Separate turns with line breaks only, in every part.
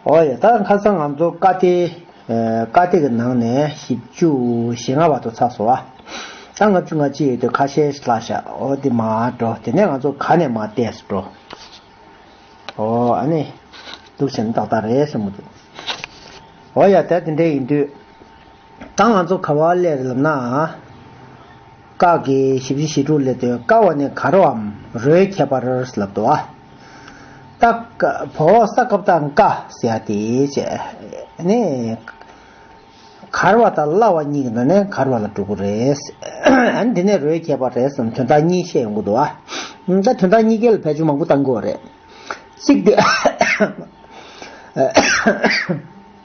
ཨོ་ཡ། ད་ཁ་སང་ང་ཚོ་བཀའ་སྡེ། བཀའ་སྡེ་གི་ནང་ནས་བཞི་བཅུ་ཞེ་ལྔ་བར་དུ་ཚགས་སོ། ཨ། ལྔ་བཅུ་ང་ཅི་ཡོད་དེ་ཁ་ཤས་ལ་བཞག་ཨོ་དེ་མ་འགྲོ་དེ་ནས་ང་ཚོ་ག་ནས་མ་བལྟས་སུ་འགྲོ། ཨོ་ཨ་ནི། འདུག་བྱས་ན་ཏག་ཏག་རེད་བསམ་གྱི་འདུག། ཨོ་ཡ། ད་དེ་འདྲ་ཡིན་དུས། ད་ང་ཚོ་ག་བ་ལས་རེད་ལབ་ན། ཀ་གི་བཞི་བཞི་བཞི་དྲུག་ལས་དོན་ཀ་བ་ནས་ག་རོའམ་རོའི་ཁྱད་པར་ལབ་འདུག་ཨ། སྟག་བོ་ས་སྐབས་ད་ཀ་ཟེར་ཡ་དེ་བྱས་ནས། གར་བ་དང་གླ་བ་གཉིས་ཀྱི་ནང་ནས་གར་བ་ལ་གྲུག་གི་རེད། ཨ་དེ་ནས་རོའི་ཁྱད་པར་རེད་བསམ་དོན་དག་གཉིས་བཤད་ཡོང་གི་འདུག་ཨ། ད་དོན་དག་གཉིས་ཀའི་ལ་བལ་ཅུང་མང་པོ་བཏང་དགོས་བ་རེད། གཅིག་དེ།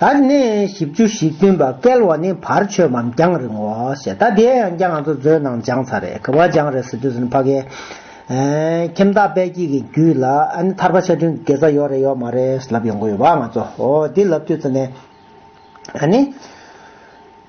ད་ནི་བཞི་བཅུ་ཞིག་བསྟུན་པ་བསྐལ་བ་ནི་བར་ཆོད་པའམ་རྒྱང་རིང་བའོ་ཞེས་ད་དེའི་ཡང་བསྐྱར་ང་ཚོ་མཛོད་ནང་སྦྱངས་ཚར་རེད་གི་བ་སྦྱངས་རེད་ཟེར་དུས་སུ་ནི་ཕ་གི། ཁྱིམ་བདག་དཔལ་སྐྱིད་ཀྱི་རྒྱུད་ལ་ཨ་ནི་ཐར་པ་ཆ་འཕྲིན་གྱི་དགེ་རྩ་ཡོད་རེད་ཡོད་མ་རེད་ཟེར་ལབ་ཡོང་གི་ཡོད་བ་ང་ཚོ་འོ་དེ་ལབ་དུས་སུ་ནི། ཨ་ནི།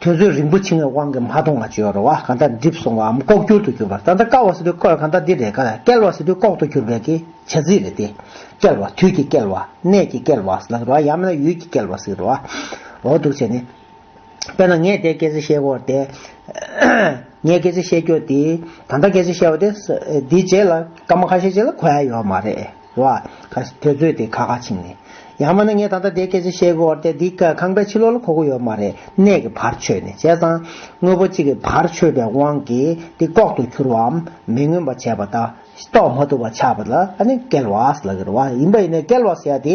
དོན་ཚོད་རིང་པོ་ཕྱིན་བའི་དབང་གིས་མ་མཐོང་བ་ཅོ་རོ་བ་གང་དག་འགྲིབ་སོང་བའམ་ལྐོག་གྱུར་དུ་གྱུར་པ་ད་ལྟ་བསྐལ་བ་སྲིད་དུ་བསྐལ་བ་གང་དག་འདི་རེས་འགའ་བསྐལ་བ་སྲིད་དུ་ལྐོག་ཏུ་གྱུར་པའི་ཀྱི་བྱ་ཚིག་རེད་དེ། བསྐལ་བ་དུས་ཀྱི་བསྐལ་བ། གནས་ཀྱི་བསྐལ་བ་ཟླ་རོ་བ་ཡང་མིན་ན་ཡུལ་གྱི་བསྐལ་བ་སྲིད་རོ་བ། འོ་འདུག་བྱས་ནས། དཔེར་ན་ངས་དེ་སྐད་ཅེས་བཤད་དགོས་ཏེ། ངས་སྐད་ཅེས་བཤད་རྒྱུ་དེ། ད་ལྟ་སྐད་ཅེས་བཤད་པ་དེ། འདིའི་རྗེས་ལ་སྐར་མ་ཁ་ཤས་ཅིག་ལ་གོ་ཡ་ཡོད་མ་རེད། བ། དེ་རྩོད་དེ་ཁ་ཁ་ཕྱིན་ནས། ཡང་མིན་ན་ངས་ད་ལྟ་དེ་སྐད་ཅིག་བཤད་དགོས་བར་དེ་འདི་ཁང་པའི་ཕྱི་ལོག་ལ་གོ་དགོས་ཡོད་མ་རེད་གནས་ཀྱི་བར་ཆོད་ནས་བྱས་ཙང། དངོས་པོ་གཅིག་གི་བར་ཆོད་པའི་དབང་གིས་དེ་ལྐོག་ཏུ་གྱུར་བའམ་མི་མངོན་པ་བྱས་པ་དང། རྟོགས་མ་ཐུབ་པ་ཆགས་པ་ལ་ཨ་ནི་སྐལ་བ་ལགས་ཀྱི་རེད་བ། ཡིན་པ་ཡིན་ན་སྐལ་བ་ཟེར་དེ།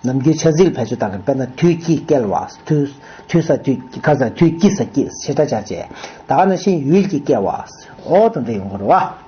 ནམ་རྒྱུན་ཆ་ཟིག་ལ་བེད་སྤྱོད་བཏང་ནས་དཔེར་ན་དུས་སྐྱིད་སྐལ་བ། དུས་ས་དུས་ཁ་ཟ་དུས་སྐྱིད་ས་སྐྱིད་ཞེས་སྒྲ་བྱ་བྱེད། ད་ནང་བཞིན་ཡུལ་གྱི་སྐལ་བ། འོག་ཏུ་འདྲི་ཡོང་གི་རེད་བ།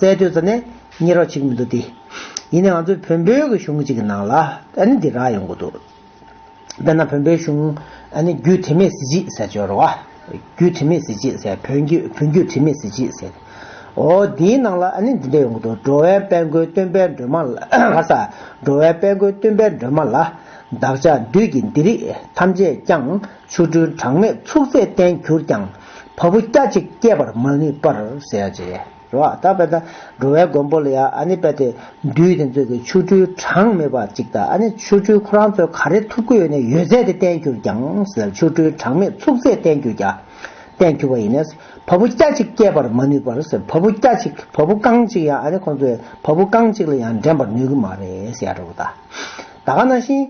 རྩལ་དོན་ཙམ་ནས་གཉེར་བ་ཅིག་མི་འདུག་སྟེ། ཡིན་ནའང་ང་ཚོའི་བོན་པོའི་གི་གཞུང་ཅིག་གི་ནང་ལ་ཨ་ནི་འདི་རག་ཡོང་གི་འདུག། དཔེར་ན་བོན་པོའི་གཞུང་ཨ་ནི་རྒྱུད་དྲི་མེད་གཟི་བརྗིད་ཟེར་སྦྱོར་བ། རྒྱུད་དྲི་མེད་གཟི་བརྗིད་ཟེར་བོན་རྒྱུད་བོན་རྒྱུད་དྲི་མེད་གཟི་བརྗིད་ཟེར། འོ་འདིའི་ནང་ལ་ཨ་ནི་འདི་འདྲ་ཡོང་གི་འདུག་འགྲོ་བའི་དཔལ་མགོན་སྟོན་པའི་སྒྲོན་མ་ལ། ལྷ་ས། འགྲོ་བའི་དཔལ་མགོན་སྟོན་པའི་སྒྲོན་མ་ལ། བདག་ཅག་བདུད་ཀྱི་འདི་རིགས་ཐམས་ཅད་ཀྱང། ཆུ་སྦྲུལ་གྲངས་མེད་ཚུགས་ཚད་བརྟན་གྱུར་ཀྱང། བ་སྤུ་སྐྱ་གཅིག་སྐྱེད་པར་མ་ནུས་པར་ཟད། འགྲོ་བ་དག་པའི་དང་འགྲོ་བའི་མགོན་པོ་ལ་ཡང་ཨ་ནི་དཔལ་དེ་འདུས་དེ་ཚོས་ཀྱི་ཆུ་སྦྲུལ་གྲངས་མེད་པ་གཅིག་དང་ཨ་ནི་ཆུ་སྦྲུལ་ཁོ་རང་ཚོས་ག་རེ་ཐུབ་ཀྱི་ཡོད་ནས་ཡོད་ཚད་དེ་བརྟན་གྱུར་ཀྱང། ཆུ་སྦྲུལ་གྲངས་མེད་ཚུགས་ཚད་བརྟན་གྱུར་ཀྱང། བརྟན་གྱུར་བ་ཡིན་ནས། བ་སྤུ་སྐྱ་གཅིག་སྐྱེད་པར་མ་ནུས་པར་ཟད། བ་སྤུ་སྐྱ་གཅིག་བ་སྤུ་རྐང་གཅིག་ཡང་ཨ་ནི་ཁོ་ཚོས་བ་སྤུ་རྐང་གཅིག་ལ་ཡང་འགྲན་པར་ནུས་ཀྱི་མ་རེད། ད་ག་ན་ཤིན།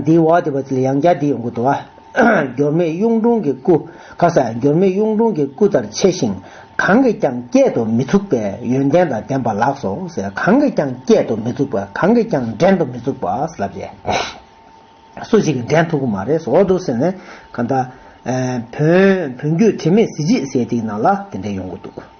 འདིའི་འོག་དེ་བ་ཚིལ་ཡང་བརྒྱ་འདི་ཡོང་གི་འདུག་ཨ། འགྱུར་མེད་གཡུང་དྲུང་གི་སྐུ། ཁ་ཟས་འགྱུར་མེད་གཡུང་དྲུང་གི་སྐུ་ལྟར་ཆེ་ཞིང་གང་གིས་ཀྱང་བསྐྱེད་དུ་མི་ཚུགས་པའི་ཡོན་ཏན་དང་ལྡན་པ་ལགས་སོ། གང་གིས་ཀྱང་བསྐྱེད་དུ་མི་ཚུགས་པ་གང་གིས་ཀྱང་འགྲན་དུ་མི་ཚུགས་པ་ལབ་ཅེས། སུ་ཞིག་གིས་འགྲན་ཐུབ་ཀྱི་མ་རེད་ཟེར་འོ་འདུག་ཟེར་ནས། གང་ལྟར། བོན་བོན་རྒྱུད་དྲི་མེད་གཟི་བརྗིད་ཟེར་དེའི་ནང་ལ་དེ་འདྲས་ཡོང་གི་འདུག།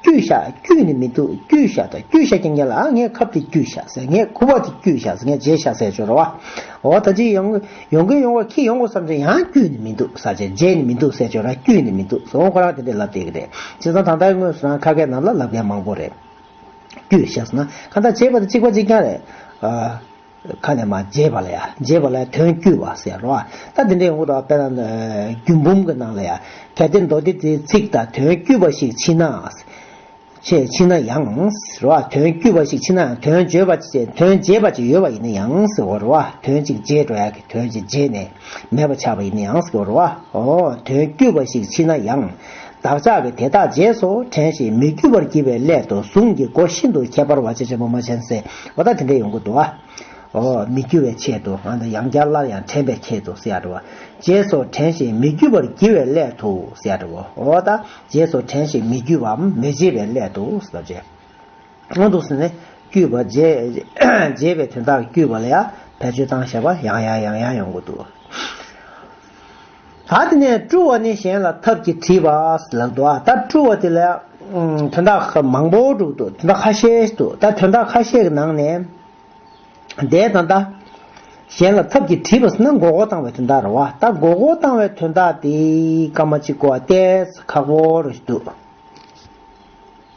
སྐྱུས་བཞག་སྐྱུས་ནི་མི་འདུག་སྐྱུས་བཞག་དང་སྐྱུས་བཞག་གྱི་ངེས་ལ་ཨ་ངའི་ཁབ་དེ་སྐྱུས་བཞག་ཟེར་ངའི་ཁུ་བ་དེ་སྐྱུས་བཞག་ཟེར་ངས་རྗེས་བཞག་ཟེར་སྦྱོར་བ། འོ་ད་ཅི་ཡོང། ཡོང་གིན་ཡོང་བ་ཁྱི་ཡོང་དགོས་བསམ་ཚེ་ཡང་སྐྱུས་ནི་མི་འདུག་ཟ་བྱེད་རྗེས་ནི་མི་འདུག་ཟེར་སྦྱོར་ར་སྐྱུས་ནི་མི་འདུག་ཟེར་འོ་ཁོ་རང་དེ་འདྲས་ལབ་བསྡད་ཀྱི་རེད། བྱས་ཙང་ད་ལྟའི་དངོས་སུ་རང་ཁ་ཁའི་ནང་ལ་ལབ་མཁན་མང་པོ་རེད། སྐྱུས་བཞག་ཟེར་ན་གང་ལྟར་བྱེད་པ་དེ་གཅིག་པ་གཅིག་རྐྱང་རེད། ཁ་ནས་མ་བརྗེད་པ་ལ་ཡང་བརྗེད་པ་ལ་ཡང་དོན་བསྐྱུར་བ་ཟེར་རོ། ད་དེ་འདྲའི་འོག་ཏུ་དཔེར་ན་རྒྱུད་འབུམ་གྱི་ནང་ལ་ཡང་གལ་ཏེ་མདོ་སྡེ་དེའི་ཚིག་དང་དོན་བསྐྱུར་བ་ཞིག་མཆིས་ན། མཆིས་ན་ཡང། རོ། དོན་བསྐྱུར་བ་ཞིག་མཆིས་ན་ཡང་དོན་བརྗོད་པ་དོན་བརྗེད་པ་ཅིག་ཡོད་པ་ཡིན་ན་ཡང། རོ། དོན་ཅིག་བརྗེད་འགྲོ་ཡག་གི་དོན་ཅིག་བརྗེད་ནས། མེད་པར་ཆགས་པ་ཡི་ནི་ཡང་སྐྱོ་རོ། འོ་དོན་དཀྱུས་པ་ཞིག་མཆིས་ན་ཡང། བདག་ཅག་གི་དེ་དག་རྗེས་སུ་དྲན་ཞིང་མི་རྒྱུད་པར་བགྱི་བའི་སླད་དུ་གཟུངས་ཀྱི་སྒོ་ཤིན་ཏུ་ཁྱད་པར་བ་ཆེ་ཆེན་པོ་མ་ཆེན་སེ་བ་དག་དེ་འདྲའི་ཡོངས་ཀྱི་འདུ་བ། འོ་མི་རྒྱུད་བའི་ཆེད་དུ་འང་དང་ཡང་བསྐྱར་སླར་ཡང་དྲན་པའི་ཆེད་དུ་སེ་བ། རྗེས་སུ་དྲན་ཞིང་མི་རྒྱུད་པར་བགྱི་བའི་སླད་དུ་སེ་བ། འོ་ད་རྗེས་སུ་དྲན་ཞིང་མི་རྒྱུད་པའམ་མི་བགྱི་བའི་སླད་དུ། སྔོན་དུ་སེམས་ནི་དཀྱུས་པ་རྒྱས་པའི་དོན་དག་དཀྱུས་པ་ལ་ཡང་བེད་སྤྱོད་སྟངས་ཞེས་པ་ཡང་ཡང་ཡང་ཡང་ཡོང་གི་འདུག། ད་དེ་ནས་སྤྲུལ་བ་ནི་གཞན་ལ་ཐབས་ཀྱིས་དྲིས་པ་ལགས་འདུག་ད་སྤྲུལ་བ་དེ་ལ་ཡང་དོན་དག་མང་པོ་འདུག་དོན་དག་ཁ་ཤས་འདུག་ད་དོན་དག་ཁ་ཤས་ཀྱི་ནང་ནས་འདས་དང་ད་གཞན་ལ་ཐབས་ཀྱིས་དྲིས་པ་ཟེར་ན་མགོ་སྐོར་བཏང་བའི་དོན་དག་རེད་བ་ད་མགོ་སྐོར་བཏང་བའི་དོན་དག་དེ་སྐར་མ་གཅིག་གོ་བ་ལྟས་ཁག་པོ་རེད་འདུག།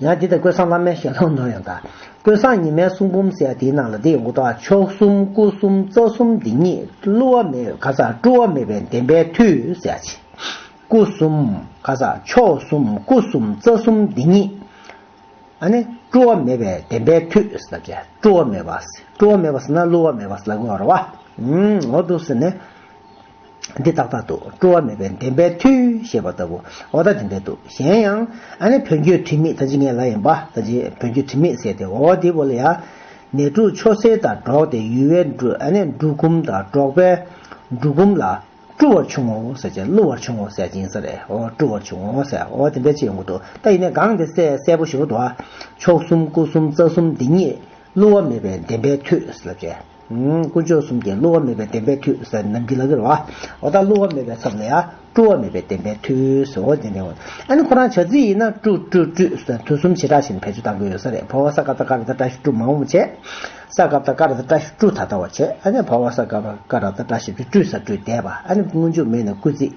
ཡང་འདི་དང་ཀུན་བཟང་བླ་མའི་ཞལ་ལུང་ནོར་ཡང་དག། ཀུན་བཟང་ཉི་མའི་གསུང་འབུམ་གསལ་དེའི་ནང་ལ་འདི་ཡོངས་གཏོགས་མཆོག་གསུམ་སྐུ་གསུམ་རྩ་གསུམ་འདི་ཉིད་བསླུ་བ་མེད་ག་ས་བཀྲུ་བ་མེད་པའི་བདེན་པའི་མཐུས་གསལ་བྱེད། སྐུ་གསུམ་ག་ས་མཆོག་གསུམ་སྐུ་གསུམ་རྩ་གསུམ་འདི་ཉིད། ཨ་ནི། བཀྲུ་བ་མེད་པའི་བདེན་པའི་མཐུས་ཟེར་ཏེ། བཀྲུ་བ་མེད་པ། བཀྲུ་བ་མེད་པ་ཟེར་ན་བསླུ་བ་མེད་པ་ཟེར་ལ་དགོས་པར་རོ། འོ་འདུག་ཟེར་ནས། འདི་ཏག་ཏག་འདུག་སྤྲོ་བ་མེད་པའི་བདེན་པའི་མཐུས་ཞེས་པ་ལྟ་བུ་འོ་ད་དེ་འདྲ་འདུག་གཞན་ཡང། ཨ་ནི་བོན་རྒྱུད་ཁྲིམས་མེད་ད་ཅི་ངས་ལ་ཡིན་པ་ད་ཅི་བོན་རྒྱུད་ཁྲིམས་མེད་ཟེར་ཏེ་འོ་བ་འདི་བོ་ལ་ཡ། ནད་དྲུག་ཆོ་སེར་དང་འགྲོགས་ཏེ་ཡུལ་བའི་འབྲུ་ཨ་ནི་འབྲུ་གུམ་དང་འགྲོགས་པས། འབྲུ་གུམ་ལ། བཀྲུ་བར་བྱུང་ངོ་ཟེར་ཅིང་བསླུ་བར་བྱུང་ངོ་ཟེར་ཅིང་ཟེར་རེད་འོ་བཀྲུ་བར་བྱུང་ངོ་ཟེར་འོ་དེ་འདྲ་ཅི་ཡོང་གི་འདུག་ད་ཡིན་ནས་སྒང་དེ་གསལ་གསལ་པོ་ཞུ་གི་འདུག་ཨ། མཆོག་གསུམ་སྐུ་གསུམ་རྩ་གསུམ་འདི་ཉིད། བསླུ་བ་མེད་པའི་བདེན་པའི་མཐུས་ལབ་བྱས། དཀོན་མཆོག་གསུམ་གྱི་བསླུ་བ་མེད་པའི་བདེན་པའི་མཐུས། ནམ་གྱི་ལག་གི་ར་བ། འོ་ད་བསླུ་བ་མེད་པའི་ཚབ་ལ་ཡ། བཀྲུ་བ་མེད་པའི་བདེན་པའི་མཐུས། ཨོ་རྒྱན་ལྡན། ཨ་ནི་ཁོ་རང་བྱ་རྩིས་ཡིན་ན། བཀྲུ། བཀྲུ། བཀྲུས། དུས་གསུམ་བྱེ་བྲག་བཞིན་བེད་སྤྱོད་གཏང་དགོས་ཡོད་ས་རེད་བྷ་བ་ས་ག་པ་ཀ་ར་ད་བཀྲ་ཤིས་བཀྲུ་མང་བོ་བྱས། ས་ག་པ་ད་ཀ་ར་ད་བཀྲ་ཤིས་བཀྲུ་ད་ལྟ་བ་བྱས། ཨ་ནི་བྷ་བ་ས་ག་པ་ཀ་ར་ད་བཀྲ་ཤིས་བཀྲུས་བཀྲུས་ས་བཀྲུས་བསྡད་པ། ཨ་ནི་སྔོན་འཇུག་མེད་ནས་བསྐུལ་རྩིས།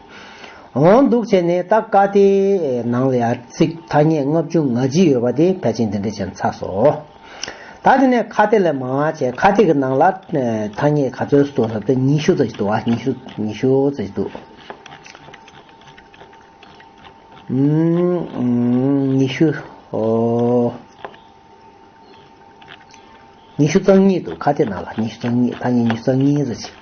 འོང་འདུག་བྱས་ནས་ད་ཀ་དེའི་ནང་ལ་ཡར་ཚིག་ཐ་སྙད་ལྔ་བཅུ་ང་བཞི་ཡོད་པ་དེ་ཕལ་ཆེན་འདི་འདྲས་བྱས་ཚར་སོང། ད་དེ་ནས་ཁ་དེ་ལས་མང་བ་བྱས་ཁ་དེ་གི་ནང་ལ་ཐ་སྙད་ག་ཚོད་སོ་རབ་ཏུ་ཉི་ཤུ་ཙམ་ཞིག་འདུག་ཨ་ཉི་ཤུ་ཉི་ཤུ་ཙམ་ཞིག་འདུག་ཨང། ཉི་ཤུ་ཨོ། ཉི་ཤུ་རྩ་གཉིས་འདུག་ཁ་དེ་ནང་ལ་ཉི་ཤུ་རྩ་གཉིས་ཐ་སྙད་ཉི་ཤུ་རྩ་གཉིས་ཙམ་ཞིག།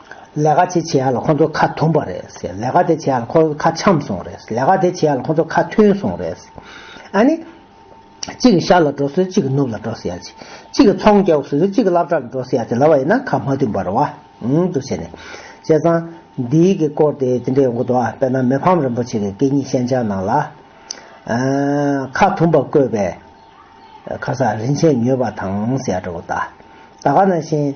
ལས་ཀ་བྱེད་བྱེད་ལ་ཁོ་ཚོ་ཁ་དུམ་པ་རེད། ལས་ཀ་དེ་བྱེད་ལ་ཁོ་ཚོ་ཁ་འཆམ་སོང་རེད། ལས་ཀ་དེ་བྱེད་ལ་ཁོ་ཚོ་ཁ་མཐུན་སོང་རེད། ཨ་ནི། གཅིག་གིས་ཤར་ལ་འགྲོ་སྲིད་གཅིག་གིས་ནུབ་ལ་འགྲོ་སྲིད་ཡ། གཅིག་གིས་ཚོང་རྒྱག་སྲིད་གཅིག་གིས་ལབ་གྲྭ་ལ་འགྲོ་སྲིད་ཡ་དེ་ལ་བ་ཡིན་ན་ཁ་མ་མཐུན་པར་བ་འུ་ཅུ་བྱས་ནས། བྱས་ཙང། འདིའི་གི་སྐོར་དེ་དེ་འདྲའི་འུ་འདུག་ཨ་དཔེར་ན་མི་ཕམ་རིན་པོ་ཆེ་གི་སྐད་གཉིས་ཤན་སྦྱར་ནང་ལ། ཁ་དུམ་པ་བཀོད་པའི། ཁ་ས་རིན་ཆེན་ཉོས་པ་དང་ཟེར་ཡ་འདྲ་བོ་ད། ད་ག་ནང་བཞིན།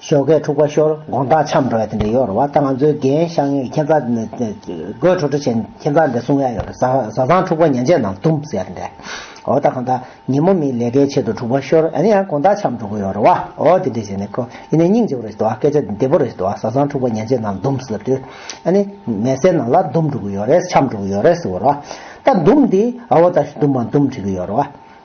ཞོགས་ཀའི་འཁྲུག་པ་ཤོར་དགོངས་དག་འཆམ་འགྲོ་ཡ་དེ་འདྲ་ཡོད་རེད་བ་ད་ང་ཚོའི་རྒན་ཤག་ངས་ཁྱེད་ཚ་དགོད་ཁྲོ་ཁྲོ་བྱས་ཁྱེད་ཚ་འདྲ་སྲུང་ཡ་ཡོད་རེད་བཟའ་ཚང་འཁྲུག་པ་ཉན་རྗེས་ནང་ལྟུང་ཟེར་ཡ་དེ་འདྲ་འོ་ད་གང་ད་ཉིན་མོ་མིའི་ལས་ཀའི་ཆེད་དུ་འཁྲུག་པ་ཤོར་ཡ་ཡང་དགོངས་དག་འཆམ་འགྲོ་གི་ཡོད་རེད་བ་འོ་དེ་འདྲ་བྱས་ནས་ཁོ་ཡིན་ནས་སྙིང་རྗེ་བོ་རེད་བ་སྐད་ཆ་འདི་བདེ་བོ་རེད་བ་བཟའ་ཚང་འཁྲུག་པ་ཉན་རྗེས་ནང་ལྟུང་ཟེར་དུས་ཨ་ནི་མལ་སའི་ནང་ལ་ལྡུམ་འགྲོ་གི་ཡོད་རེད་འཆམ་འགྲོ་གི་ཡོད་རེད་ཟེར་བ་རེད་བ་ད་ལྡུམ་འདི་ཨོ་ད་ལྡུམ་མ་ལྡུམ་དྲི་གི་ཡོད་རེད་བ།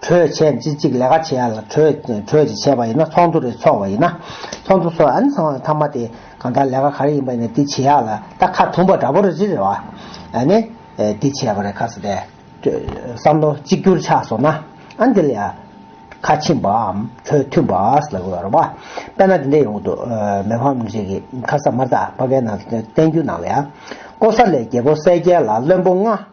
གྲོས་བྱས་རྗེས་གཅིག་ལས་ཀ་བྱེད་ཡ་ལ་གྲོས་གྲོས་བྱས་བྱས་པ་ཡིན་ན་ཚོགས་འདུ་རེ་ཚོགས་བ་ཡིན་ན་ཚོགས་འདུ་ཚོགས་ཨ་ནི་ཚང་མ་ཚང་མ་དེ་གང་ལྟར་ལས་ཀ་ག་རེ་ཡིན་པ་ཡིན་ན་དེ་བྱེད་ཡ་ལ་ད་ཁ་ཐུང་པ་འདྲ་པོ་རེ་རེ་རེ་བ་ཨ་ནི་དེ་བྱས་པ་རེ་ཁ་ས་དེ་བསམ་བློ་གཅིག་གྱུར་ཆགས་སོང་ན་ཨ་ནི་དེ་ལ་ཡ་ཁ་ཕྱིན་པའམ་གྲོས་མཐུན་པ་ལ་དགོས་པ་རེ་བ་དཔེར་ན་དེ་འད་ཡོང་གི་འདུག་མེ་ཧྥ་མུ་ཤེ་ཁི་ཁ་ས་མར་ད་བ་གའི་ནང་བསྟན་རྒྱུད་ནང་ལ་ཡ་ཀོ་ས་ལའི་རྒྱལ་པོ་གསལ་རྒྱལ་ལ་བློན་པོ་ལྔ།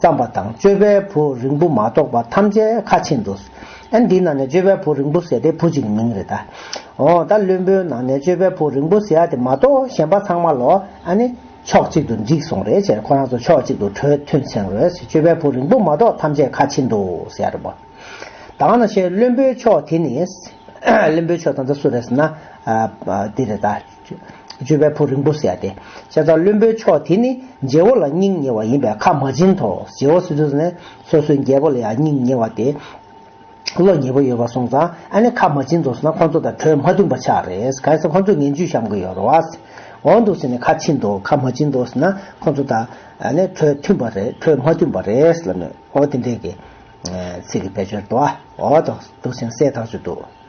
བརྩམས་པ་དང་སྤྱོད་པའི་བུ་རིང་པོ་མ་གཏོགས་པ་ཐམས་ཅད་ཁ་ཕྱེ་འདུག། ཨན་འདིའི་ནང་ནས་སྤྱོད་པའི་བུ་རིང་པོ་ཟེར་དེ་བུ་གཅིག་གི་མིང་རེད་ད། འོ་ད་བླུན་པོའི་ནང་ནས་སྤྱོད་པའི་བུ་རིང་པོ་ཟེར་ཡ་དེ་མ་གཏོགས་གཞན་པ་ཚང་མ་ལོ་ཨ་ནི། ཕྱོགས་གཅིག་ཏུ་འཇིགས་སོང་རེད་ཅེས་ཁོ་རང་ཚོ་ཕྱོགས་གཅིག་ཏུ་གྲོས་མཐུན་ཚན་རོལ་ཟེར་སྤྱོད་པའི་བུ་རིང་པོ་མ་གཏོགས་ཐམས་ཅད་ཁ་ཕྱེ་འདུག་ཟེར་ཡ་རེད་པོ། དང་ན་ཤེས་བླུན་པོའི་ཕྱོགས་དེ་ནི། བླུན་པོའི་ཕྱོགས་དང་ད་སུ་རེད་ཟེར་ན། འདི་རེད་ད། སྤྱོད་པའི་ཕོ་རིང་པོ་ཟེར་ཏེ། ཤ་ཚ་བློན་པོའི་ཕྱོགས་དེ་ནི་རྗེ་བོ་ལ་སྙིང་ཉེ་བ་ཡིན་པས་ཁ་མ་འབྱིན་ཏོ། རྗེ་བོ་སི་ཏུ་ནི་སོ་སོའི་རྒྱལ་པོ་ལ་ཡང་སྙིང་ཉེ་བ་སྟེ། བློ་ཉེ་པོ་ཡོད་པར་སོང་ཙང་ཨ་ནི་ཁ་མ་འབྱིན་ཏོ་ཟེར་ན་ཁོ་ཚོ་དང་གྲོས་མ་མཐུན་པ་ཆགས་རེད། གང་ཟག་ཁོ་ཚོས་ངན་ཇུས་བཤམ་གི་ཡོད་རེད། འོན་ཏུ་ཟེར་ནས་ཁ་འབྱིན་ཏོ་ཁ་མ་འབྱིན་ཏོ་ཟེར་ན་ཁོ་ཚོ་དང་གྲོས་མཐུན་པ་རེད་གྲོས་མ་མཐུན་པ་རེད་ལབ་ནས་འོ་དེ་འདྲའི་ཚིག་གི་བེད་སྤྱོད་དོ། འོ་ཏོ་ཟེར་ནས་སའི་ཐག་གཅོད་དོ།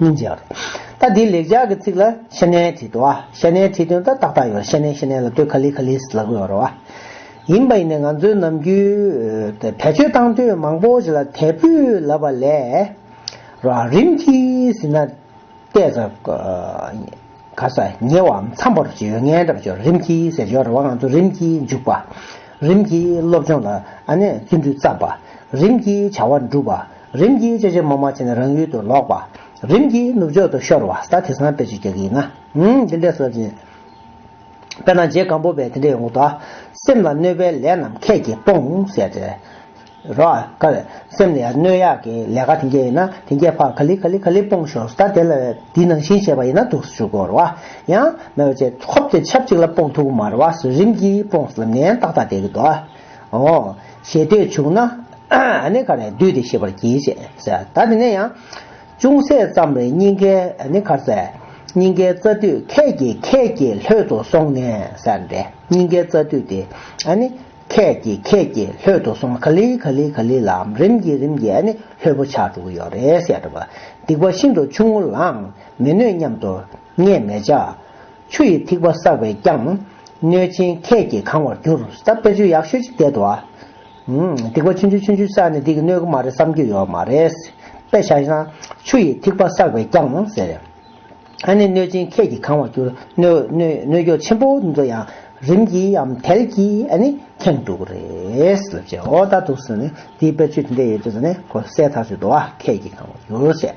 མི་འབྱར། ད་འདི་ལེགས་སྦྱར་གྱི་ཚིག་ལ་ཤ་གནས་བྲིས་ཏོ། ཤ་གནས་བྲིས་དོན་ལྟར་ཏག་ཏག་ཡོད། ཤ་གནས་ཤ་གནས་ལ་དོད་ཁ་ལི་ཁ་ལི་ལ་དགོས་རོ། ཡིན་པ་ཡིན་ནས་ང་ཚོའི་ནམ་རྒྱུན། བེད་སྤྱོད་བཏང་དུས་མང་པོ་ཞིག་ལ་དལ་བུས་ལབ་པ་ལས། རོ། རིམ་གྱིས་ཟིན་ན། བལྟས་ཚ། ག་ས། ཉེ་བའམ་མཚམས་པར་བྱེད་ཡོད་ངེས་འདྲ་བྱོས། རིམ་གྱིས་ཟེར་སྦྱོར་རེ་བ་ང་ཚོ་རིམ་གྱིས་འཇུག་པ། རིམ་གྱིས་སློབ་སྦྱོང་ལ། བརྩོན་འགྲུས་བརྩམས་པ། རིམ་གྱིས་བྱ་བ་འགྲུབ་པ། རིམ་གྱིས་ཅེ་ཅེ་མོ་མོ་བྱས་ནས་རང་ཡུལ་དུ་ལོག་པ། རིམ་གྱིས་ནུབ་ཕྱོགས་དུ་ཤོར་བ་ས་དེ་སང་ཕལ་ཆེར་རྒྱག་གི་ཡིན་ན། འདི་འདྲས་སོ་ཅི། དཔེར་ན་རྗེ་སྒམ་པོ་པས་དེ་འདྲའི་འོག་ཏུ། སེམས་ལ་གནོད་པའི་ལས་རྣམས་ཁད་ཀྱིས་སྤོངས། ཟེར་ཏེ། རོ། ཀ་བས། སེམས་ལ་གནོད་ཡག་གི་ལས་ཀ་དེ་འདྲས་ཡིན་ན་དེ་འདྲས་ཕ་ག་ལི་ག་ལི་ག་ལི་སྤོངས་ཤོག་ས་དེ་ལ་དེའི་ནང་བཞིན་བྱས་པ་ཡིན་ན་འདུག་སུ་ཞུ་དགོས་རོ། ཡང། མེ་བ་ཅེ་ཧོབ་དེ་ཆབ་ཅིག་ལ་སྤོངས་ཐུག་གི་མ་རེད་བ་སུ་རིམ་གྱིས་སྤོངས་ལབ་ནས་ཏག་ཏག་བསྡད་ཀྱི་འདུག། ཨོ། ཞེས་ལྟོས་བྱུང་ན། ནི་གར་ནི་བསྡུས་ཏེ་ཤེས་པར་གྱིས། ཞེས་ཟེར། ད་དེ་ནས་ཡང། ཅུང་ཟད་ཙམ་རེ་སྙིང་ཁའི། ནི་གར་ཟེར། སྙིང་ཁའི་རྩ་མདུད་ཁད་ཀྱིས་ཁད་ཀྱིས་ལྷོད་དུ་སོང་ནས། ཟེར། སྙིང་ཁའི་རྩ་མདུད་དེ། ནི། ཁད་ཀྱིས་ཁད་ཀྱིས་ལྷོད་དུ་སོང་ན་ག་ལི་ག་ལི་ག་ལི་ལ། རིམ་གྱིས་རིམ་གྱིས་ནི་ལྷོད་པོ་ཆགས་འགྲོ་གི་ཡོད་རེད། ཞེས་བྲིས་པ། སྡིག་པ་ཤིན་ཏུ་ཆུང་ངུ་ལའང་མི་གནོད་སྙམ་དུ། སྔས་མེ་བྱ། ཆུ་ཡི་ཐིགས་པ་བསགས་པས་བསྐྱང། གནོད་སྦྱིན་ཁད་ཀྱིས་གང་བར་གྱུར། ཟླ་དཔེར་ཆུ་ཡག་ཤོད་ཅིག་བསྟད་དོ། སྡིག་པ་ཆུན་ཆུན་ཆུན་ཆུན་བསགས་ནས་སྡིག་གི་སྣོད་དགུ་མ་རེད་བསམ་རྒྱུ་ཡོད་མ་རེད། དཔེ་བྱ་ན། ཆུ་ཡི་ཐིགས་པ་བསགས་པས་བསྐྱང་ཟེར། ཨ་ནི་གནོད་སྦྱིན་ཁད་ཀྱིས་གང་བར་གྱུར། གནོད་གྱོགས་ཆེན་པོ་འདི་ཚོ་ཡང། རིམ་གྱིའམ་དལ་གྱིས་ཨ་ནི་ཁེངས་འགྲོ་གི་རེད། ལབ་བྱས་འོ་ད་དུག་སེལ། འདིའི་དཔེར་ཆུ་དེ་འདྲས་ཡོད་ཚོད་ནི་གོ་གསལ་ཐག་ཆོད་འདུག་ཨ་ཁད་ཀྱིས་གང་བར་གྱུར་ཟེར།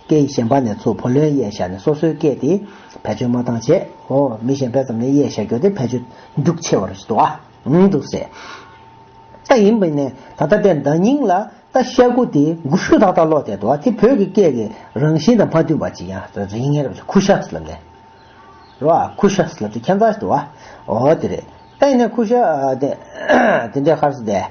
སྐད་ཡིག་གཞན་པ་ནས་ཚུར་བུ་ལོན་གཡས་བཞག་ནས་སོ་སོའི་སྐད་དེ་བེད་སྤྱོད་མ་བཏང་བྱས། ཧོ། མི་གཞན་པས་ཙམ་ནས་གཡས་བཞག་རྒྱུ་དེ་བེད་སྤྱོད་རྒྱུག་ཆེ་བར་འདུག་ཨ། འུ་འདུག་ཟེར། ད་ཡིན་པས་ནས་ད་ལྟ་དེ་འདྲ་སྙིང་ལ་ད་བཤད་དགུ་དེ་དགུ་ཤུ་དག་དག་ལོག་བསྡད་འདུག་ཨ་དེ་བོད་ཀྱི་སྐད་ཀྱི་རང་བཞིན་དང་མ་མཐུན་པ་ཅིག་ཡང་ཟེར་ཡིན་ངེས་རེད་བྱས་ཁུ་ཤ་ཟ་ལབ་ནས། རོ་ཨ། ཁུ་ཤ་ཟ་ལབ་དེ་ཁྱད་མཚར་ཞིག་འདུག་ཨ། འོ་དེ་རེད། ད་ཡིན་ནས་ཁུ་ཤ། དེ་འདྲའི་ཁར་ཟ་བསྡད།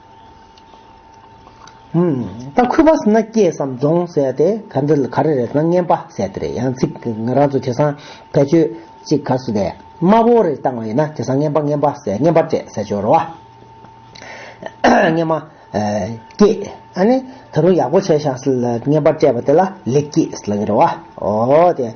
ད་ཁུ་བ་སི་ན་སྐྱེས་སམ་རྫོང་ཟེར་ཏེ་ག་འདི་ལ་ག་རེ་རེད་ན་རྔན་པ་ཟེར་ཏེ་རེད་ཡང་ཚིག་ང་རང་ཚོ་དེ་སང་བེད་སྤྱོད་ཅིག་ག་སུ་དེ་དམར་བོ་རེ་བཏང་བ་ཡིན་ན་དེ་སང་རྔན་པ་རྔན་པ་ཟེར་རྔན་པ་སྤྲད་ཟེར་ཆོག་རེད་བ། རྔན་མ། སྐྱེས། ཨ་ནི་ད་རུང་ཡག་པོ་བྱས་ཤག་སི་ལ་རྔན་པ་སྤྲད་པ་དེ་ལ་ལེགས་སྐྱེས་སི་ལ་གི་རེད་བ། ཨོ་དེ།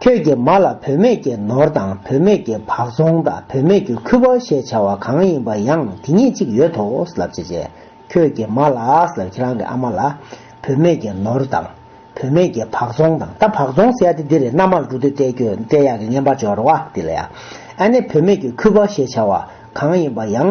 ཁྱོད་ཀྱིས་མ་ལ་བུད་མེད་ཀྱི་ནོར་དང་བུད་མེད་ཀྱི་བག་རྫོང་དང་བུད་མེད་ཀྱི་ཁུ་བ་ཞེས་བྱ་བ་གང་ཡིན་པ་ཡང་དེ་ཉིད་ཅིག་ཡོད་དོ་ལབ་ཅེས་བྱས། ཁྱོད་ཀྱིས་མ་ལ་ཁྱེད་རང་གི་ཨ་མ་ལ། བུད་མེད་ཀྱི་ནོར་དང། བུད་མེད་ཀྱི་བག་རྫོང་དང་ད་བག་རྫོང་ཟེར་ཡ་དེ་འདིར་མནའ་མར་འགྲོ་དུས་བསྐྲད་ཁྱོད་བསྐྲད་ཡག་གི་བརྔན་པར་སྦྱོར་བ་དེ་ལ་ཡང། ཨ་ནེ་བུད་མེད་ཀྱི་ཁུ་བ་ཞེས་བྱ་བ་གང་ཡིན་པ་ཡང་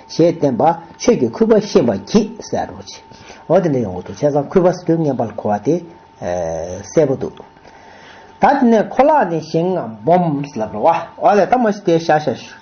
ཞེས་བསྟན་པ་ཆོས་ཀྱི་ཁུ་བ་ཤེས་པར་གྱིས་གསལ་རོ། འོ་དེ་འདྲ་ཡོང་གི་འདུག་བྱས་ཙང་ཁུ་བ་དོན་ངན་པར་གོ་བ་དེ་གསལ་པོ་འདུག། ད་དེ་ནས་ཁོ་ལག་ནས་ཞིང་ངམ་སྦོམ་ལབ་རོ། འོ་ལས་ད་མ་ཤི་དེ་ཤ་ཤ།